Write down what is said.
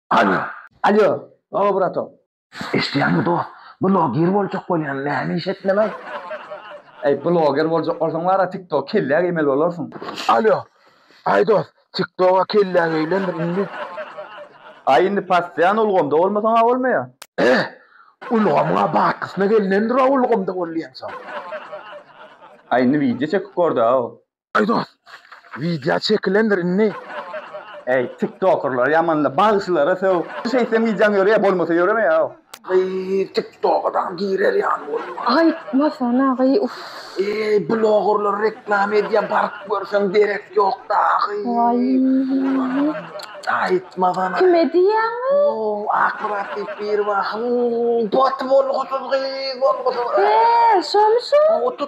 Alýo. Alýo, Baba Burato. Eşidýäňmi dost, bloger boljak bolýan, näme iş etmelay? Eý, bloger boljak bolsaň bar-a TikTok kellä geýmeli bolarsyň. Alýo. Aý dost, TikTok-a kellä geýlendir indi. Aý indi passian ulgamda bolmasaň-a bolmaýa. Eý, ulgamyň-a batgysyna gelinendir-a ulgamda bolýansoň. Aý indi wideo çekip gör-dä-ow. Eý dost, widýa çekilendir indi. Eý tiktokerler ýamanla bagşylara söw. Şeýtseň widýaň ýörýär bolmasa ýöremeýär. Eý tiktoka dagy girer ýaly boldum. Aýtmasana gyý uff. Eý blogerler reklama edýär baryp görseň derek ýok dagy. Waýýýy. Aýtmasana. Kime diýýäňyý. Ow Akmyrat diýip biri bar hymm bot bolgusyz gyz bolgusyz. He şomy şu.